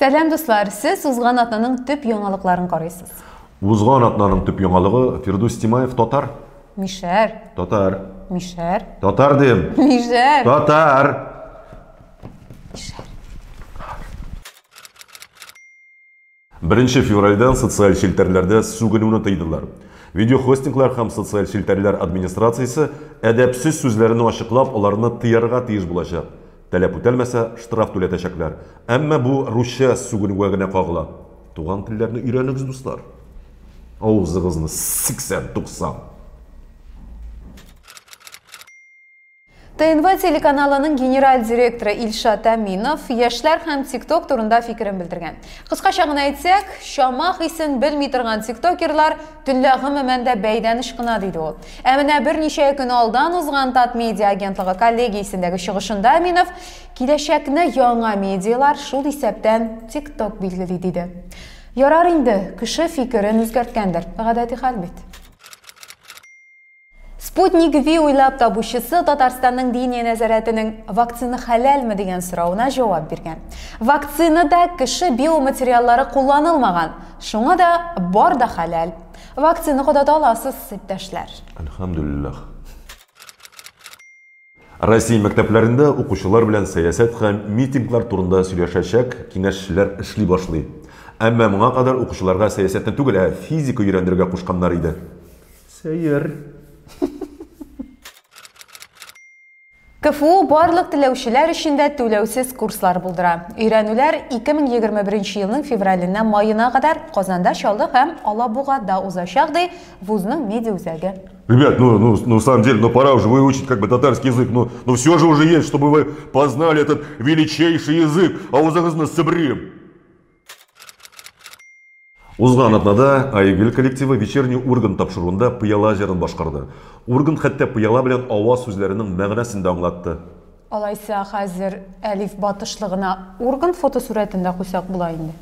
Сәлам дуслар, сез узган атнаның төп яңалыкларын карыйсыз. Узган атнаның төп яңалыгы Фирдус Тимаев татар. Мишәр. Татар. Мишәр. Татар дим. Мишәр. Татар. Мишәр. Беренче февральдән социаль челтәрләрдә сүгенүне тыйдылар. Видеохостинглар һәм социаль челтәрләр администрациясе әдәпсез сүзләрне ачыклап, аларны тыярга тиеш булачак. Таләп үтәлмәсә, штраф түләтәчәкләр. Әмма бу русча сүгенүгә генә кагыла. Туган телләрне өйрәнегез, дуслар! Авызыгызны сиксән-туксан! ТНВ телеканалының генераль директоры Илшат Әминов яшьләр һәм ТикТок турында фикерен белдергән. Кыскача гына әйтсәк, чама хисен белми торган тиктокерлар төнлә гомумән дә бәйдәнеш кына, диде ул. Ә менә берничә көн алдан узган Татмедиа агентлыгы коллегиясендәге чыгышында Әминов киләчәкне яңа медиалар, шул исәптән тикток билгели, диде. Ярар инде, кеше фикерен үзгәрткәндер, гадәти хәл бит. Sputnik V уйлап табучысы Татарстанның Диния нәзарәтенең вакцина хәләлме дигән соравына җавап биргән. Вакцинада кеше биоматериаллары кулланылмаган, шуңа да бар да хәләл. Вакцина кадата аласыз, иптәшләр. Әлхәмдүлилләх. Россия мәктәпләрендә укучылар белән сәясәт һәм митинглар турында сөйләшәчәк киңәшчеләр эшли башлый. Әмма моңа кадәр укучыларга сәясәтне түгел, ә физика өйрәндерергә кушканнар иде. Сәер. КФУ барлык теләүчеләр өчен дә түләүсез курслар булдыра. Өйрәнүләр 2021 елның февраленнән маена кадәр Казанда, Чаллы һәм Алабугада узачак, ди вузның медиаүзәге. Ребят, ну, ну, ну, в самом деле, ну, пора уже выучить как бы татарский язык, но, ну, но ну, все же уже есть, чтобы вы познали этот величайший язык, а у загрузно сыбрим. Узган атнада Айгөл коллективы вечерний урган тапшыруында пыяла җырын башкарды. Урган хәтта пыяла белән ава сүзләренең мәгънәсен дә аңлатты. Алайса хәзер Әлиф батышлыгына урган фотосурәтен дә куйсак була инде.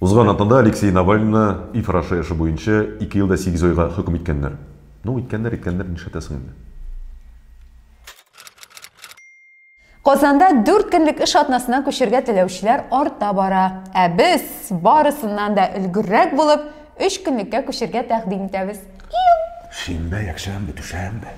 Узган атнада Алексей Навальныйны ИФ арашы эше буенча ике ел да сигез айга хөкем иткәннәр. Ну, иткәннәр, иткәннәр, нишләтәсең инде. Казанда дүрт көнлек эш атнасына күчергә теләүчеләр арта бара. Ә без, барысыннан да өлгеррәк булып, өч көнлеккә күчергә тәкъдим итәбез. Иу! Шимбә, якшәмбе, дүшәмбе.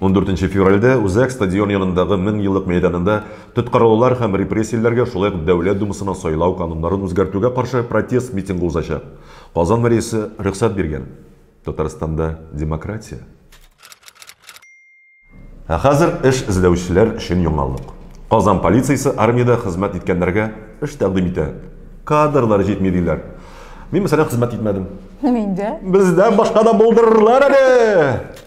14 нче февральдә Үзәк стадион янындагы Мең еллык мәйданында тоткарлаулар һәм репрессияләргә, шулай ук Дәүләт Думасына сайлау кануннарын үзгәртүгә каршы протест митингы узачак. Казан мэриясе рөхсәт биргән. Татарстанда демократия. Ә хәзер эш эзләүчеләр өчен яңалык. Казан полициясе армиядә хезмәт иткәннәргә эш тәкъдим итә. Кадрлар җитми, диләр. Мин, мәсәлән, хезмәт итмәдем. Мин дә. Бездән башка да булдырырлар әле!